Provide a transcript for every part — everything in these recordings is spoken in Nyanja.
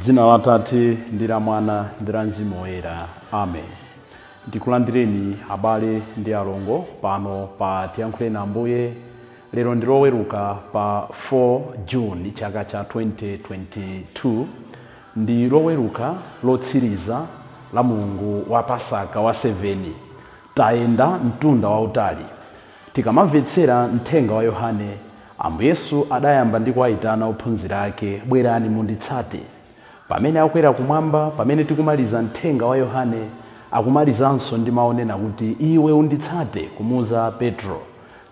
Dzina la Tate ndi la Mwana ndi la Mzimu Woyera. Amen. Ndikulandireni abale ndi alongo pano pa Tiyankhuleni Ambuye. Lero ndi Loweruka pa 4 June chaka cha 2022 ndi Loweruka lotsiriza la mlungu wa Pasaka wa 7. Tayenda mtunda wautali Tikamamvetsera mthenga wa Yohane, Ambuye Yesu adayamba ndi kuwaitana ophunzira ake, Bwerani munditsate. Pamene akwera kumwamba, pamene tikumaliza mthenga wa Yohane, akumalizanso ndi mau onena kuti iwe unditsate kumuuza Petro.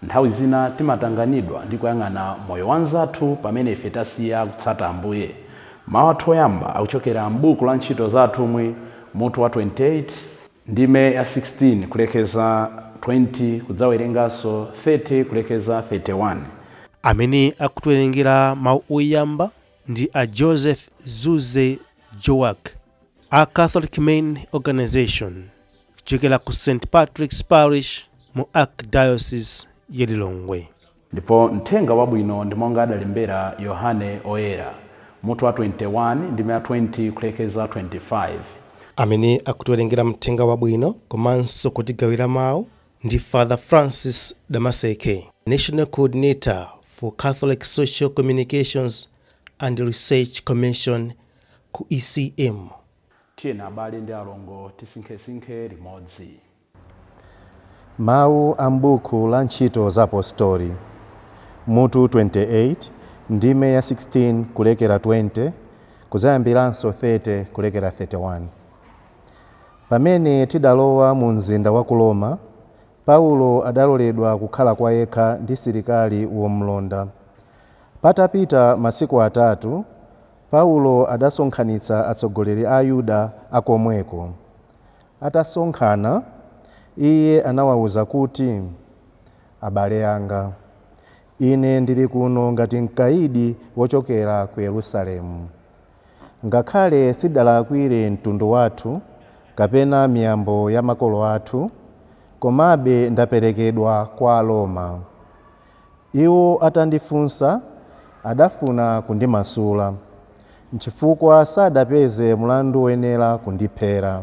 Nthawi zina timatanganidwa ndi kuyang'ana moyo wa anzathu pamene ife tasiya kutsata Ambuye. Mau athu oyamba akuchokera m'buku la Ntchito za Atumwi, mutu wa 28. Ndime ya 16, kulekeza 20, kudzawerenganso 30, kulekeza 31. Amene akutiwerengera mau oyamba ndi a Joseph Zuze Joack, a Catholic Men Organisation, kuchokera ku St. Patrick's Parish mu Archdiocese ya Lilongwe. Ndipo Mthenga Wabwino ndi monga adalembera Yohane Oyera, mutu wa 21, ndime ya 20 kulekeza 25. Amene akutiwerengera Mthenga Wabwino komanso kutigawira mau ndi Father Francis Damaseke, National Coordinator for Catholic Social Communications and Research Commission ku ECM. Tiyeni abale ndi alongo tisinkhesinkhe limodzi. Mawu a m'buku la Ntchito za Apostoli, mutu 28, ndime ya 16 kulekera 20, kudzayambiranso 30 kulekera 31. Pamene tidalowa mu mzinda wa ku Roma, Paulo adaloledwa kukhala kwa yekha ndi silikali womlonda. Patapita masiku atatu, Paulo adasonkhanitsa atsogoleri a Ayuda a komweko. Atasonkhana, iye anawauza kuti, Abale anga, ine ndili kuno ngati mkaidi wochokera ku Yerusalemu. Ngakhale sindidalakwire mtundu wathu kapena miyambo ya makolo athu, komabe ndaperekedwa kwa Aroma. Iwo atandifunsa, adafuna kundimasula, nchifukwa sadapeze mlandu woyenera kundiphera.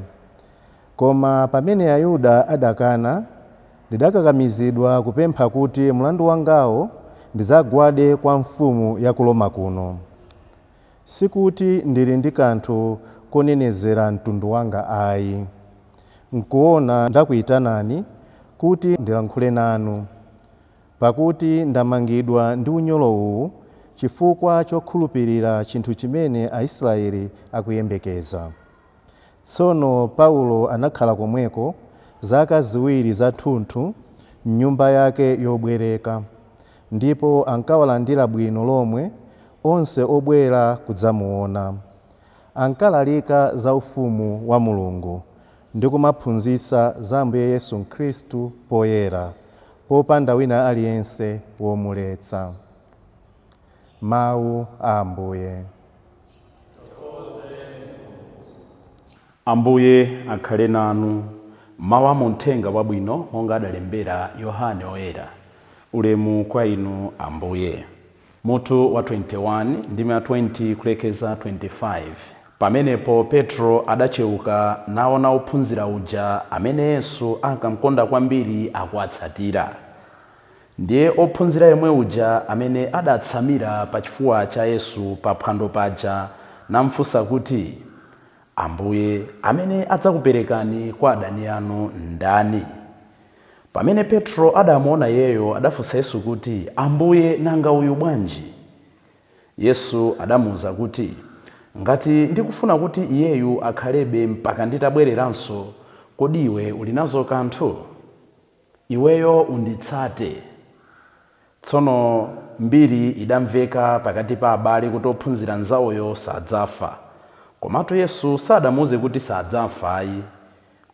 Koma pamene Ayuda adakana, ndidakakamizidwa kupempha kuti mlandu wangawo ndidzagwade kwa mfumu ya ku Roma kuno. Sikuti ndili ndi kanthu konenezera mtundu wanga ai. Nkuona ndakuitanani kuti ndilankhule nanu. Pakuti ndamangidwa ndi unyolo uwu chifukwa chokhulupirira chinthu chimene Aisraeli akuyembekeza. Tsono Paulo anakhala komweko zaka ziwiri zathunthu m'nyumba yake yobwereka, ndipo ankawalandira bwino lomwe onse obwera kudzamuona. Ankalalika za ufumu wa Mulungu ndi kumaphunzitsa za Ambuye Yesu Khristu poyera, popanda wina aliyense womuletsa. Mawu a Ambuye. Ambuye akhale nanu. Mawu a mu Mthenga Wabwino monga adalembera Yohane Oyera. Ulemu kwa Inu Ambuye. Mutu wa 21, ndime ya 20 kulekeza 25, Pamenepo Petro adacheuka, naona wophunzira uja amene Yesu ankamkonda kwambiri akuwatsatira. Ndiye wophunzira yemwe uja amene adaatsamira pa chifuwa cha Yesu pa phwando paja namfunsa kuti, Ambuye, amene adzakuperekani kwa adani anu ndani? Pamene Petro adamuwona iyeyo, adafunsa Yesu kuti, Ambuye, nanga uyu bwanji? Yesu adamuuza kuti, Ngati ndikufuna kuti iyeyu akhalebe mpaka nditabwereranso, kodi iwe uli nazo kanthu? Iweyo unditsate. Tsono mbiri idamveka pakati pa abale kuti wophunzira nzawoyo sadzafa. Komatu Yesu sadamuuze kuti sadzafa ayi.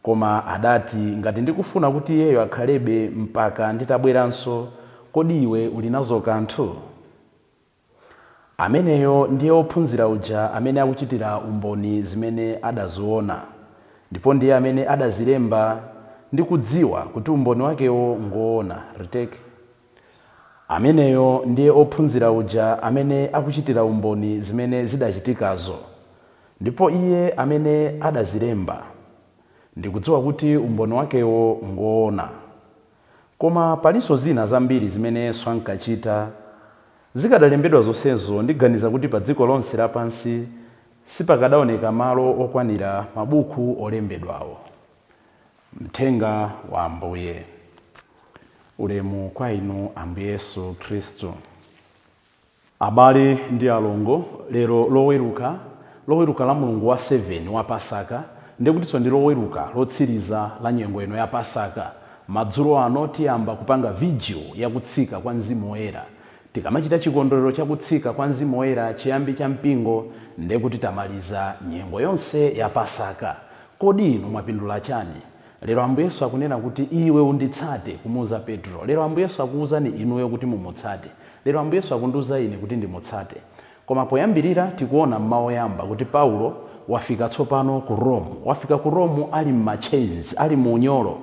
Koma adati, Ngati ndikufuna kuti iyeyo akhalebe mpaka nditabweranso, kodi iwe uli nazo kanthu? Ameneyo ndiye wophunzira uja amene akuchitira umboni zimene adaziwona, ndipo ndiye amene adazilemba ndikudziwa kuti umboni wakewo ngwoona, retake. Ameneyo ndiye wophunzira uja amene akuchitira umboni zimene zidachitikazo, ndipo iye amene adazilemba, ndikudziwa kuti umboni wakewo ngwoona. Koma palinso zina zambiri zimene Yesu ankachita. Zikadalembedwa zonsezo, ndiganiza kuti pa dziko lonse lapansi sipakadaoneka malo okwanira mabuku olembedwawo. Mthenga wa Ambuye. Ulemu kwa Inu Ambuye Yesu Khristu. Abale ndi alongo, lero Loweruka, Loweruka la mlungu wa 7 wa Pasaka, ndi kutinso ndi Loweruka lotsiriza la nyengo ino ya Pasaka. Madzulo ano tiyamba kupanga vigil ya kutsika kwa Mzimu Woyera. Tikamachita chikondwerero cha kutsika kwa Mzimu Woyera chiyambi cha mpingo nde kuti tamaliza nyengo yonse ya Pasaka. Kodi inu mwapindula chani? Lero Ambuye Yesu akunena kuti iwe unditsate kumuuza Petro. Lero Ambuye Yesu akuuzani inuyo kuti mumutsate. Lero Ambuye Yesu akundiuza ine kuti ndimutsate. Koma poyambirira tikuona m'mawu oyamba kuti Paulo wafika tsopano ku Rome. Wafika ku Rome ali m'ma chains, ali mu unyolo.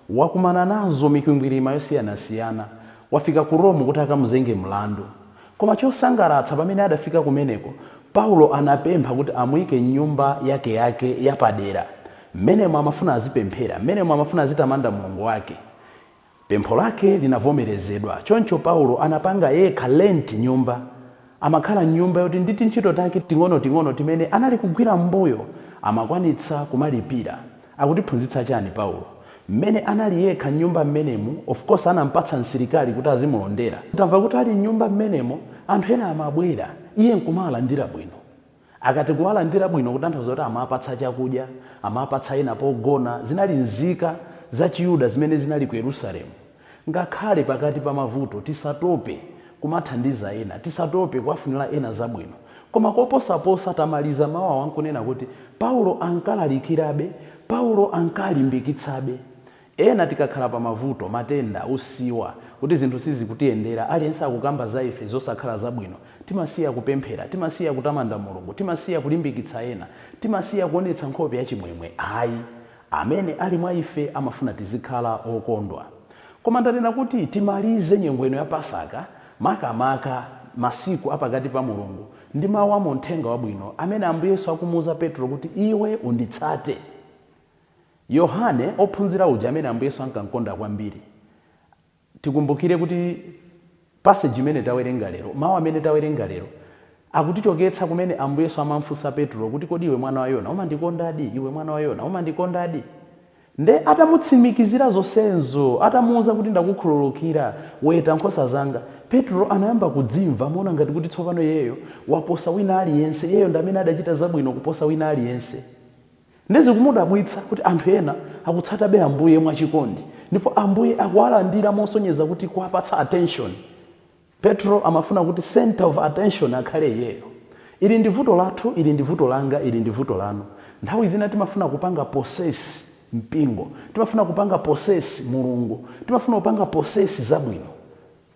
Wakumana nazo mikwingwirima yosiyanasiyana. wafika ku Rome kuti akamuzenge mlandu. Koma chosangalatsa, pamene adafika kumeneko, Paulo anapempha kuti amuike m'nyumba yakeyake yapadera. Mmenemo amafuna azipemphera. Mmenemo amafuna azitamanda Mulungu wake. Pempho lake linavomerezedwa. Choncho Paulo anapanga yekha rent nyumba Amakhala m'nyumba yoti ndi tintchito take ting'onoting'ono timene anali kugwira m'mbuyo amakwanitsa kumalipira. Akutiphunzitsa chani Paulo? M'mene anali yekha m'nyumba m'menemu, of course anampatsa msilikali kuti azimulondera, tamva kuti ali m'nyumba m'menemo anthu ena amabwera iye nkumawalandira bwino. Akati kuwalandira bwino kutanthauza kuti amawapatsa chakudya, amawapatsa ena pogona, zinali nzika za chiyuda zimene zinali ku Yerusalemu. Ngakhale pakati pa mavuto tisatope kumathandiza ena, tisatope kuwafunira ena zabwino. Koma koposaposa tamaliza mau awa nkunena kuti Paulo ankalalikirabe, Paulo ankalimbikitsabe. Ena tikakhala pa mavuto, matenda, usiwa, kuti zinthu sizikutiyendera, aliyense akukamba za ife zosakhala zabwino, timasiya kupemphera, timasiya kutamanda Mulungu, timasiya kulimbikitsa ena, timasiya kuonetsa nkhope ya chimwemwe ayi. Amene ali mwa ife amafuna tizikhala okondwa. Koma ndanena kuti timalize nyengo ino ya Pasaka makamaka masiku a pakati pa mulungu ndi mau a mu Mthenga Wabwino amene Ambuye Yesu akumuuza Petro kuti iwe unditsate. Yohane, ophunzira uja amene Ambuye Yesu ankankonda kwambiri, tikumbukire kuti passage imene tawerenga lero, mau amene tawerenga lero, akutichoketsa kumene Ambuye Yesu amamfunsa Petro kuti kodi iwe mwana wa Yona umandikondadi? Iwe mwana wa Yona umandikondadi? Nde atamutsimikizira zonsezo, atamuuza kuti ndakukhululukira, weta nkhosa zanga, Petro anayamba kudzimva monga ngati kuti tsopano iyeyo waposa wina aliyense, iyeyo ndi amene adachita zabwino kuposa wina aliyense. Nde zikumudabwitsa kuti anthu ena akutsatabe Ambuye mwa chikondi ndipo Ambuye akuwalandira mosonyeza kuti kuwapatsa attention. Petro amafuna kuti centre of attention akhale iyeyo. Ili ndi vuto lathu, ili ndi vuto langa, ili ndi vuto lanu. Nthawi zina timafuna kupanga possess mpingo, timafuna kupanga possess Mulungu, timafuna kupanga possess zabwino.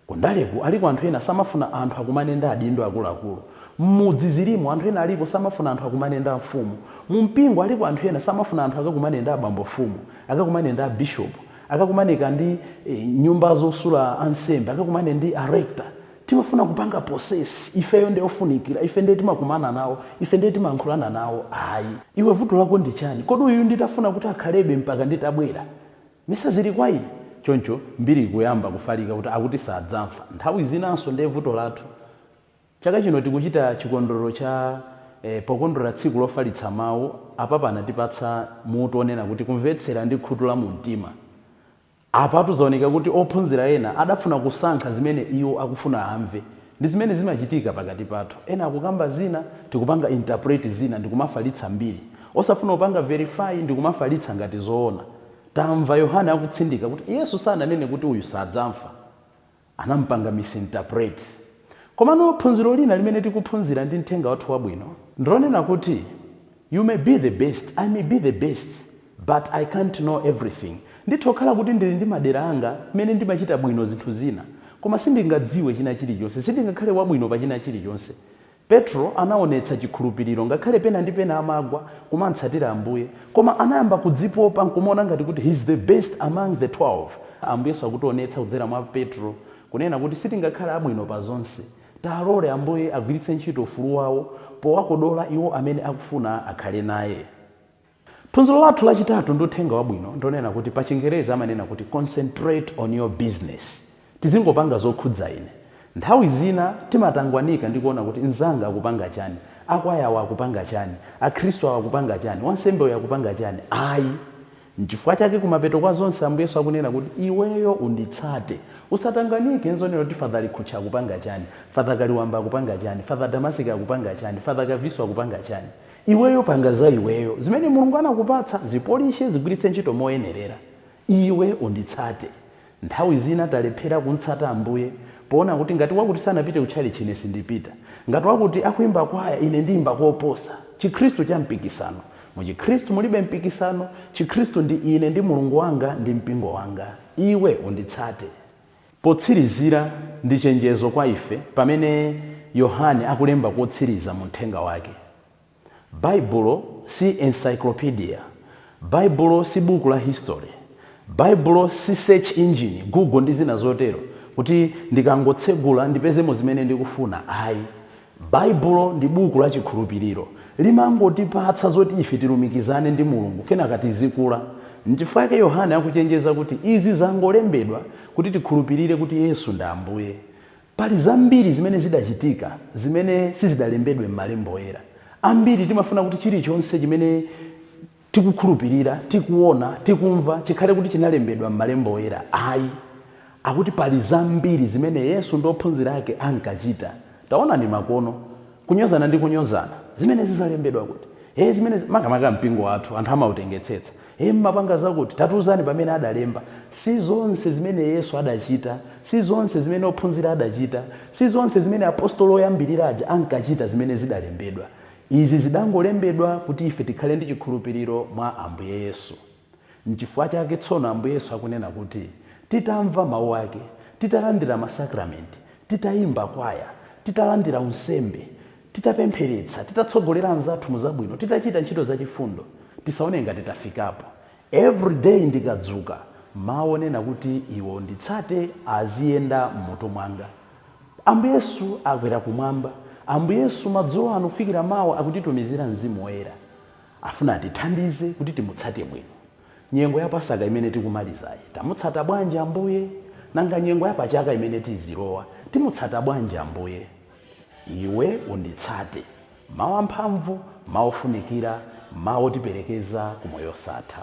Kundaleku aliko anthu ena samafuna anthu akumane ndi adindo akuluakulu. Mmudzi zilimo, anthu ena alipo samafuna anthu akumane ndi amfumu. Mumpingo aliko anthu ena samafuna anthu akakumane ndi abambo mfumu, akakumane ndi abishop, akakumaneka ndi nyumba zosula ansembe, akakumane ndi a rector. Timafuna kupanga possess. Ifeyo nde ofunikira, ife nde timakumana nawo, ife nde timayankhulana nawo. Ayi. Iwe vuto lako ndi chani? Kodi uyu nditafuna kuti akhalebe mpaka nditabwera? Nanga zili kwa iwe? Choncho mbiri ikuyamba kufalika kuti akuti sadzamfa. Nthawi zinanso ndiye vuto lathu. Chaka chino tikuchita chikondwerero cha eh pokondwerera tsiku lofalitsa mau, a Papa anatipatsa mutu onena kuti kumvetsera ndi khutu la mumtima. Apatu zaoneka kuti ophunzira ena adafuna kusankha zimene iwo akufuna amve Ndi zimene zimachitika pakati pathu. Ena akukamba zina, tikupanga interpret zina ndikumafalitsa mbiri. Osafuna kupanga verify ndikumafalitsa ngati zoona. Tamva Yohane akutsindika kuti Yesu sananene kuti uyu sadzamfa. Anampanga misinterpret. Komano phunziro lina limene tikuphunzira mu mthenga wathu wabwino ndilonena kuti you may be the best, I may be the best, But I can't know everything. Nditha kukhala kuti ndili ndi madera anga mmene ndimachita bwino zinthu zina, koma sindingadziwe china chilichonse, sindingakhale wabwino pa china chilichonse. Petro anaonetsa chikhulupiriro ngakhale pena ndi pena amagwa pomutsatira Ambuye, koma anayamba kudzipopa nkumaona ngati kuti he's the best among the 12. Ambuyenso akutionetsa kudzera mwa Petro kunena kuti sitingakhale abwino pa zonse. Tilole Ambuye agwiritse ntchito ufulu wawo powakodola iwo amene akufuna akhale naye. Phunziro lathu lachitatu mu uthenga wabwino ndi lonena kuti pachingerezi amanena kuti concentrate on your business. Tizingopanga zokhudza ine. Nthawi zina timatangwanika ndi kuona kuti nzanga akupanga chani, akwaya awa akupanga chani, akhristu awa akupanga chani, wansembe uyu akupanga chani. Ayi. Nchifukwa chake kumapeto kwa zonse Ambuye Yesu akunena kuti iweyo unditsate. Usatangwanike nzoona kuti Father Likhutcha akupanga chani, Father Kaliwamba akupanga chani, Father Damaseke akupanga chani, Father Kaviso akupanga chani. Iweyo panga za iweyo. Zimene Mulungu anakupatsa, zipolishe, zigwiritse ntchito moyenerera. Iwe unditsate. Nthawi zina talephera kumtsata Ambuye poona kuti ngati wakuti sanapite kutchalitchi ine sindipita. Ngati wakuti akuimba kwaya ine ndiimba koposa. Chikhristu cha mpikisano. Mu Chikhristu mulibe mpikisano. Chikhristu ndi ine ndi Mulungu wanga ndi mpingo wanga. Iwe unditsate. Potsirizira, ndi chenjezo kwa ife pamene Yohane akulemba kotsiriza mu Mthenga wake. Baibulo si encyclopedia. Baibulo si buku la history. Baibulo si search engine, Google ndi zina zotero, kuti ndikangotsegula ndipezemo zimene ndikufuna. Ayi, Baibulo ndi buku la chikhulupiriro. Limangotipatsa zoti ife tilumikizane ndi Mulungu kenaka tizikula. Nchifukwa chake Yohane akuchenjeza kuti izi zangolembedwa kuti tikhulupirire kuti Yesu ndi Ambuye. Pali zambiri zimene zidachitika zimene sizidalembedwe m'malembo oyera. Ambiri timafuna kuti chilichonse chimene. tikukhulupirira, tikuona, tikumva, chikhale kuti chinalembedwa m'Malembo Oyera? Ayi. Akuti pali zambiri zimene Yesu ndi ophunzira ake ankachita. Taonani makono ano. Kunyozana ndi kunyozana. Zimenezi zalembedwa kuti? Ee, zimenezi, makamaka mpingo wathu, anthu amautengetsetsa. Ee, mumapanga zakuti? Tatiuzani pamene adalemba. Si zonse zimene Yesu adachita, si zonse zimene ophunzira adachita, si zonse zimene apostoli oyambirira aja ankachita zimene zidalembedwa. Izi zidangolembedwa kuti ife tikhale ndi chikhulupiriro mwa Ambuye Yesu. Nchifukwa chake tsono Ambuye Yesu akunena kuti, Titamva mau ake, titalandira masakramenti, titaimba kwaya, titalandira unsembe, titapempheretsa, titatsogolera anzathu mu zabwino, titachita ntchito za chifundo, tisaone ngati tafikapo. Every day ndikadzuka, mau onena kuti iwe unditsate aziyenda m'mutu mwanga. Ambuye Yesu akwera kumwamba. Ambuye Yesu madzulo ano kufikira mawa akutitumizira Mzimu Woyera. Afuna atithandize kuti timutsate bwino. Nyengo ya Pasaka imene tikumalizayi, tamutsata bwanji Ambuye? Nanga nyengo ya pachaka imene tizilowa, timutsata bwanji Ambuye? Iwe unditsate. Mawu amphamvu, mawu ofunikira, mawu otiperekeza ku moyo wosatha.